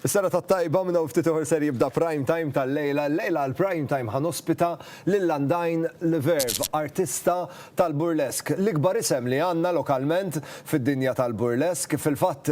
Is-serata t-tajba minn hawn ftit ieħor ser jibda Prime Time tal-lejla. Illejla għal Prime Time ħa nospita lil Undyne Leverve, artista tal-burlesk. L-ikbar isem li għandna lokalment fid-dinja tal-burlesk. Fil-fatt,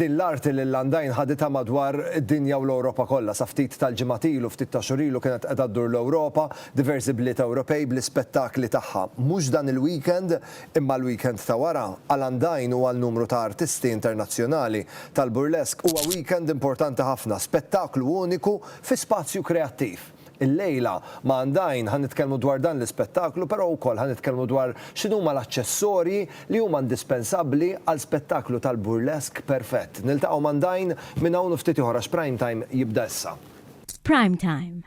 din l-arti lil Undyne ħaditha madwar id-dinja u l-Ewropa kollha. Sa ftit tal-ġimgħat ilu, ftit ta' xhur ilu kienet qiegħda ddur l-Ewropa, diversi bliet Ewropej bl-ispettakli tagħha. Mhux dan il-weekend. Imma l-weekend ta' wara, għal Andajn u għal numru ta' artisti internazzjonali tal-burlesque huwa weekend importanti ħafna, spettaklu uniku fi spazju kreattiv. Illejla, ma' Andajn, ħa nitkellmu dwar dan l-ispettaklu però wkoll ħa nitkellmu dwar x'inhuma l-aċċessorji li huma indispensabbli għal spettaklu tal-burlesque perfett. Niltaqgħu m'Andajn minn hawn u ftit ieħor għax Prime Time jibda issa. Prime Time,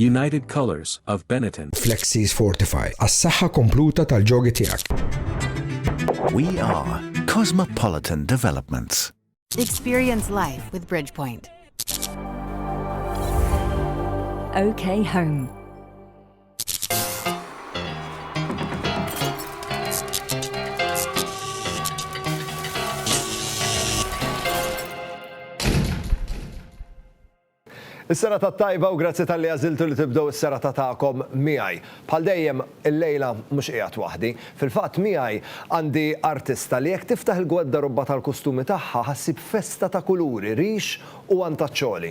United Colors of Benetton. Flexis Fortify, għas-saħħa kompluta tal-ġogi tiegħek. We are Cosmopolitan Developments. Experience life with Bridgepoint. OK Home. Is-sera ta' tajba u grazzi tal-li għaziltu li tibdow is-sera ta' ta'kom miħaj. Bħal dejjem il-lejla mux qiegħed waħdi. Fil-fatt miħaj għandi artista li jekk tiftaħ il-gwedda rubba tal-kustumi tagħha ħassib festa ta' kuluri, rix u għantaċċoli.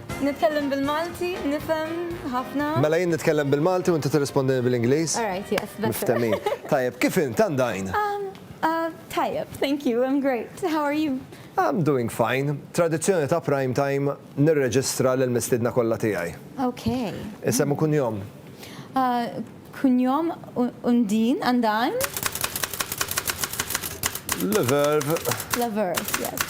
Nitkellem bil-Malti, nifhem ħafna. Mela jien nitkellem bil-Malti u inti tirrispondini bil-Ingliż? All right, yes, better. Miftehmin. Tajjeb, kif int għandajn? Um, uh, tajjeb, thank you, I'm great. How are you? I'm doing fine. Tradizzjoni ta' prime time nirreġistra lil mistidna kollha tiegħi. Okay. Isem u kunjom? Uh, kunjom undin, għandajn? Le verb. Le verb, yes.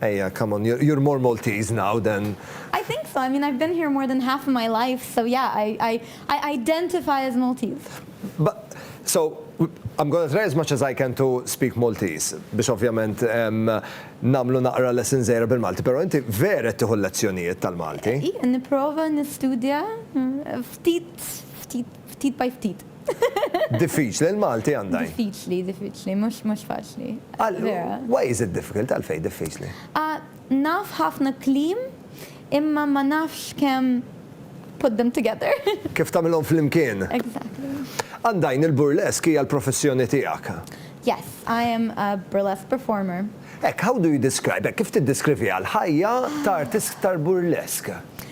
Ejja, come on, you're more Maltese now than. I think so, I mean I've been here more than half of my life, so yeah, I identify as Maltese. But, so, I'm gonna try as much as I can to speak Maltese, biex ovvjament nagħmlu naqra lessons żgħira bil-Malti, pero inti vera qed tieħu l-lezzjonijiet tal-Malti? Nipprova nistudja ftit, ftit. Ftit by ftit. Diffiċli, l-Malti għandha. Diffiċli, diffiċli, mhux mhux faċli. Vera. Why is it difficult? Għalfejn diffiċli? Naf ħafna kliem imma ma nafx kemm put them together. Kif tagħmilhom flimkien. Exactly. Għandajn, il-burlesque hija l-professjoni tiegħek. Yes, I am a burlesque performer. Hekk, how do you describe, hekk kif tiddeskriviha l-ħajja ta' artist tal-burlesque?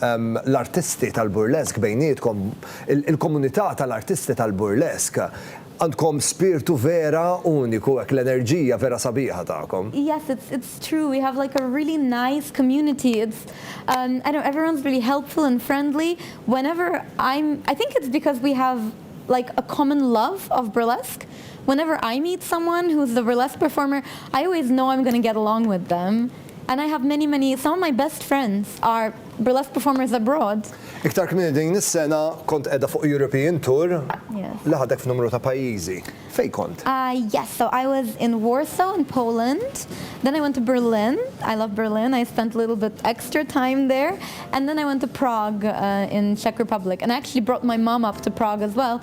l-artisti tal-burlesk bejnietkom, il-komunità tal-artisti tal-burlesk, għandkom spirtu vera uniku hekk, l-enerġija vera sabiħa tagħkom. Yes it's it's true we have like a really nice community it's um I don't everyone's really helpful and friendly whenever I'm I think it's because we have like a common love of burlesk whenever I meet someone who's the burlesk performer I always know I'm gonna get along with them. And I have many many, some of my best friends are burlesque performers abroad. Iktar kmieni din is-sena kont qiegħda fuq European tour li ħadek f'numru ta' pajjiżi. Fejn kont? Yes, so I was in Warsaw in Poland, then I went to Berlin, I love Berlin, I spent a little bit extra time there, and then I went to Prague in Czech Republic. And I actually brought my mom up to Prague as well.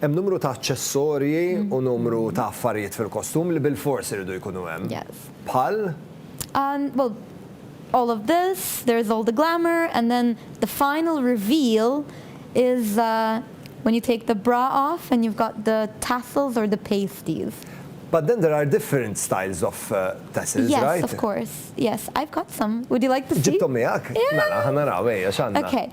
Hemm numru ta' aċċessorji u numru ta' affarijiet fil-kostum li bilfors iridu jkunu hemm. Bħal? And, well, all of this, there is all the glamour and then the final reveal is when you take the bra off and you've got the tassels or the pasties. But then there are different styles of tassels, right? Yes, of course. Yes, I've got some. Would you like to see? Ġibthom miegħek? Mela, ħa naraw, ejja, x'għandna. Okay,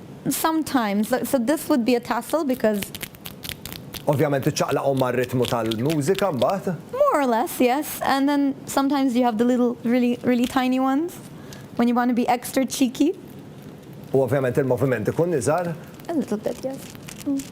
Sometimes, so this would be a tassel because. Ovvjament iċċaqlaqhom mar-ritmu tal-mużika mbagħad. More or less, yes. And then sometimes you have the little really, really tiny ones when you wanna be extra cheeky. U ovvjament il-moviment ikun iżgħar. A little bit, yes.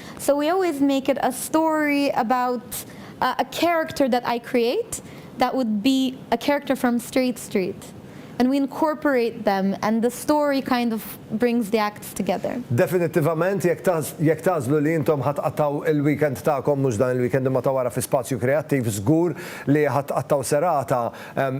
So we always make it a story about a a character that I create that would be a character from Straight Street and we incorporate them and the story kind of brings the acts together. Definittivament jekk jekk tagħżlu li intom ħa tqattgħu il-weekend tagħkom mhux dan il-weekend imma ta' wara fi Spazju Kreattiv żgur li ħa tqattgħu serata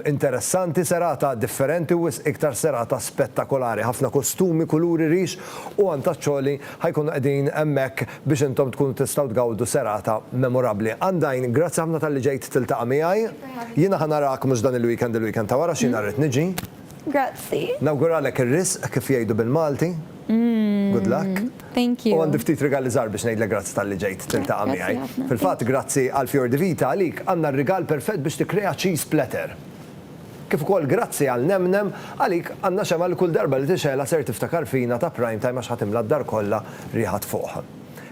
interessanti, serata differenti u wisq iktar serata spettakolari. Ħafna kostumi, kuluri, rix u għan taċ-ċoli ħa jkunu qegħdin hemmhekk biex intom tkunu tistgħu tgawdu serata memorabbli. Undyne, grazzi ħafna talli ġejt tiltaqa' miegħi. Jiena ħa narak mhux dan il-weekend il-weekend ta' wara għax jiena rrid niġi. Grazzi. Nawguralek ir-risq kif jgħidu bil-Malti. Good luck. Thank you. U għandi ftit rigali żgħar biex ngħidlek grazzi talli ġejt tiltaqa' miegħi. Grazzi ħafna. Fil-fatt grazzi għall-fjor di vita, għalik għandna r-rigal perfett biex tikkrea cheese platter. Kif ukoll grazzi għal nemnem għalik għandna xemgħa li kull darba li tixgħelha ser tiftakar fina ta' Prime Time għax ħa timla d-dar kollha riħa tfuħ.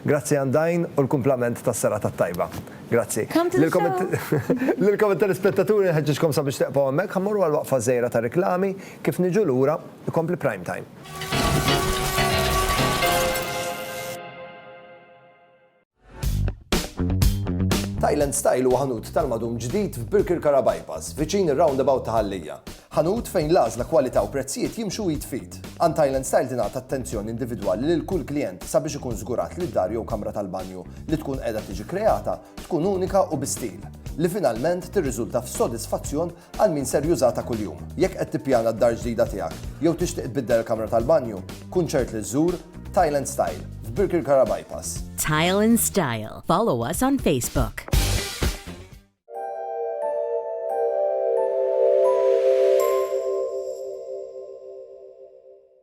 Grazzi għand Dajn u l-kumplament tas-serata t-tajba. Grazzi. Lilkom it-telespettaturi nħeġġiġkom sabiex teqfgħu hemmhekk ħa mmorru għal waqfa żgħira ta' riklami, kif niġu lura ikompli Prime Time. Thailand Style huwa ħanut tal-madum ġdid f'Birkirkara Bypass, viċin ir-roundabout ta' Ħallija. Ħanut fejn l-għażla, kwalità u prezzijiet jimxu id f'id. Għand Thailand Style tingħata attenzjoni individwali lil kull klijent sabiex ikun żgurat li d-dar jew kamra tal-banju li tkun qiegħda tiġi kreata tkun unika u bi stil, li finalment tirriżulta f'sodisfazzjon Għal min ser jużha ta' kuljum. Jekk qed tippjana d-dar ġdida tiegħek jew tixtieq tbiddel il-kamra tal-banju, kun ċert li żżur Tile and Style f'Birkirkara Bypass. Tile and Style. Follow us on Facebook.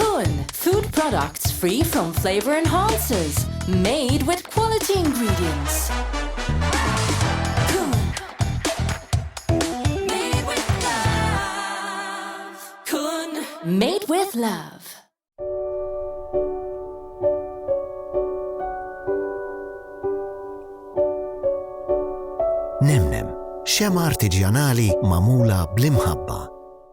Kun, food products free from flavor enhancers, made with quality ingredients. Made with love. Nemnem, xem artiġjanali mamula bl-imħabba.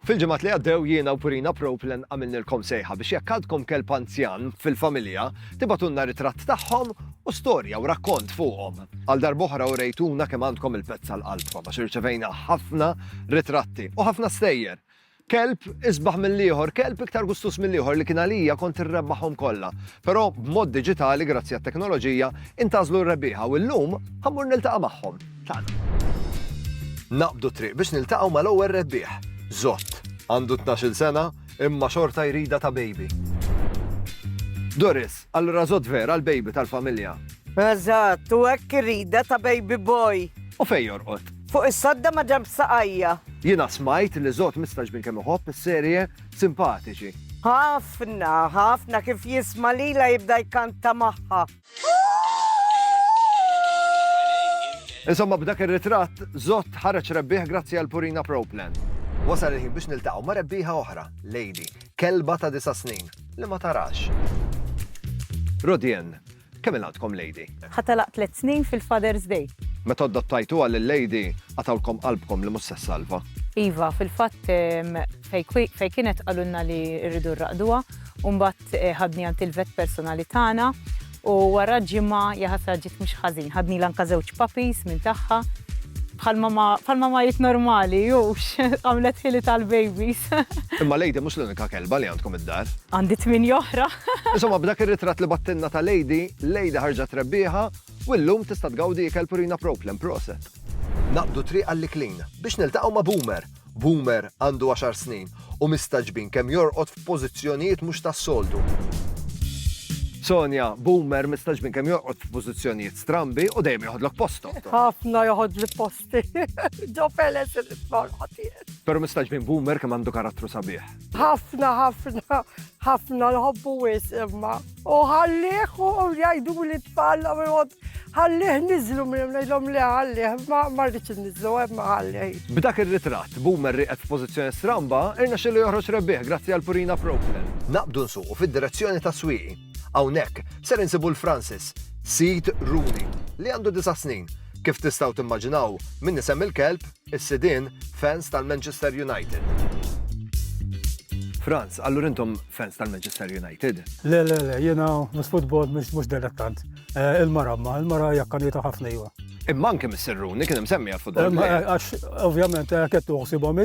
Fil-ġimgħat li għaddew jiena u Purina Proplen għamilnilkom sejħa biex jekk għadkom kelb anzjan fil-familja, tibgħatulna ritratt tagħhom u storja u rakkont fuqhom. Għal darb'oħra urejtuna kemm għandkom il-pets għal qalbkom għax irċevejna ħafna ritratti u ħafna stejjer. Kelb isbaħ mill-ieħor, kelb iktar gustus mill-ieħor li kien għalija kont irrebbaħhom kollha. Però b'mod diġitali grazzi għat-teknoloġija intażlu r-rebbieħa u llum ħammur niltaqa' magħhom. tagħna. Naqbdu t-triq biex niltaqgħu mal-ewwel rebbieħ. Żott. Għandu tnax-il sena, imma xorta jridha ta' baby. Doris, Allura Żott vera l-baby tal-familja? Eżatt, u hekk iridha ta' baby boy. U fejn jorqod? Fuq is-sodda ma' ġenb saqajja. Jiena smajt li Żott mistax minn kemm iħobb is-serje, simpatiċi. Ħafna, ħafna kif jisma' lilha jibda jkanta magħha. Insomma b'dak ir-ritratt, Zott ħareġ rebbieħ grazzi għal Purina Pro Plan. Wasal il-ħin biex niltaqgħu ma' rebbieħa oħra, Lady, kelba ta' disa' snin, li ma tarax. Rodien, kemm il-għandkom Lady? Ħa telaq tliet snin fil-Father's Day. Meta adottajtuha lil Lady, qatgħulkom qalbkom li mhux se ssalva. Iva, fil-fatt fejn kienet qalulna li rridu rraqduha, u mbagħad Ġiet ħadni għand il-vet personali tagħna u wara ġimgħa, jaħasra ġiet mhux ħażin, ħadnilha anke żewġ puppies minn tagħha. Bħal mamajiet normali, hux, għamlet ħili tal-babies. Imma Lady mhux l-unika kelba li għandkom id-dar. Għandi tmienja oħra. Insomma, b'dak ir-ritratt li bagħtilna ta' Lady, Lady ħarġet rebbieħa u llum tista' tgawdi ikel purina Proplem. Proset! Naqbdu triq għall-iklin biex niltaqgħu ma' Boomer Boomer għandu għaxar snin u mistagħġbin kemm jorqod f'pożizzjonijiet mhux tas-soltu. Sonja, Boomer mistagħġbin kemm jorqod f'pożizzjonijiet strambi u dejjem joħodlok postok. Ħafna joħodli posti. Ġo feles il-ismorħot. Però mistagħġbin Boomer kemm għandu karattru sabiħ. Ħafna, ħafna, ħafna nħobbu wis imma. U ħallih u jgħidu li tfal ħallih nizlu minn ngħidhom li ħallih ma marriċ nizlu imma ħallih. B'dak ir-ritratt, Boomer riqet f'pożizzjoni stramba, irna xillu joħroġ rebbieħ grazzi għal Purina Proplin. Naqbdu nsuqu fid-direzzjoni tas-swieqi. Hawnhekk ser insibu 'l Francis, sid Rooney, li għandu disa' snin. Kif tistgħu timmaġinaw, minn isem il-kelb, is-sidien fans tal-Manchester United. Franz, allura intom fans tal-Manchester United? Le, le, le, jiena mis futbol mhux delettant. Eh, il-mara ma, il-mara jakkanita ħafna jiva. Imma anke mis-serruni kien hemm semmi għal-futbol. Għax, ovvjament, eh, kettu uħsibhom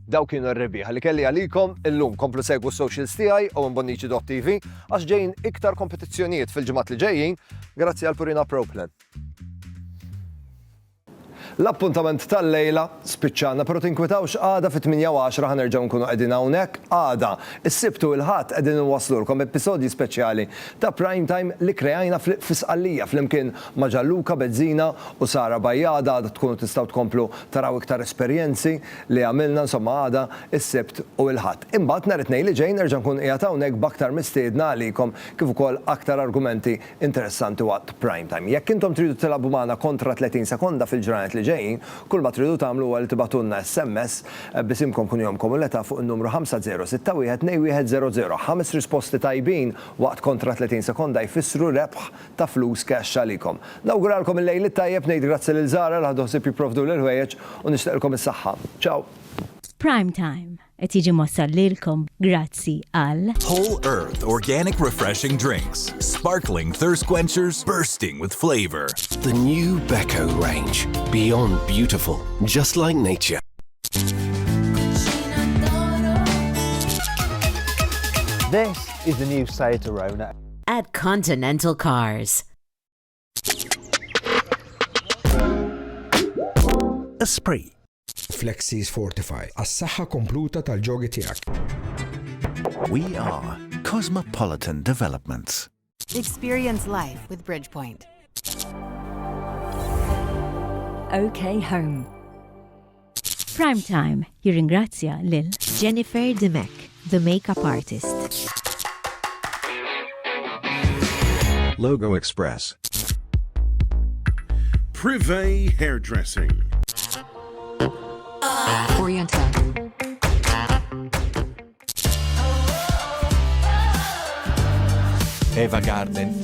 Dawk kienu r-rebieħa li kelli għalikom illum. Komplu segwu s-socials tiegħi Owen Bonnici dott TV għax ġejjin iktar kompetizzjonijiet fil-ġimgħat li ġejjin grazzi għal Purina Pro Plan. L-appuntament tal-lejla spiċċana, però tinkwitawx għada fit-8 u 10 ħa nerġgħu nkunu qegħdin hawnhekk. Għada, is-Sibt u l-Ħadd qegħdin inwasslulkom episodji speċjali ta' Prime Time li kreajna fi Sqallija flimkien ma' Gianluca Bezzina u Sara Bajada. Għada tkunu tistgħu tkomplu taraw iktar esperjenzi. li għamilna insomma għada, is-Sibt u l-Ħadd. Imbagħad nhar it-Tnejn li ġej nerġa' nkun qiegħed hawnhekk b'aktar mistiedna għalikom kif ukoll aktar argumenti interessanti waqt Prime Time. Jekk intom tridu tilagħbu magħna kontra 30 sekonda fil-ġranet li ġejjin, kull ma tridu tagħmlu huwa li tibagħtulna SMS b'isimkom kunjomkom u l-età fuq in-numru 5061 2100. Ħames risposti tajbin waqt kontra 30 sekonda jfissru rebħ ta' flus cash għalikom. Nawguralkom il-Lejl it-Tajjeb, ngħid grazzi lil Zara li ħadu ħsieb jipprovduli l-ħwejjeġ u nixtieqilkom is-saħħa. Ciao! Prime Time qed jiġi mwassal lilkom grazzi għal. Whole Earth Organic Refreshing Drinks, Sparkling Thirst Quenchers Bursting with Flavor. The new Beko range, beyond beautiful, just like nature. This is the new Seat Arona. at Continental Cars. Esprit. Flexis Fortify, għas-saħħa kompluta tal-ġogi tiegħek. We are Cosmopolitan Developments. Experience life with Bridgepoint. OK Home. Prime Time jirringrazzja lil Jennifer Dimech, the makeup artist. Logo Express. Privé Hairdressing. Oriental. Eva Garden.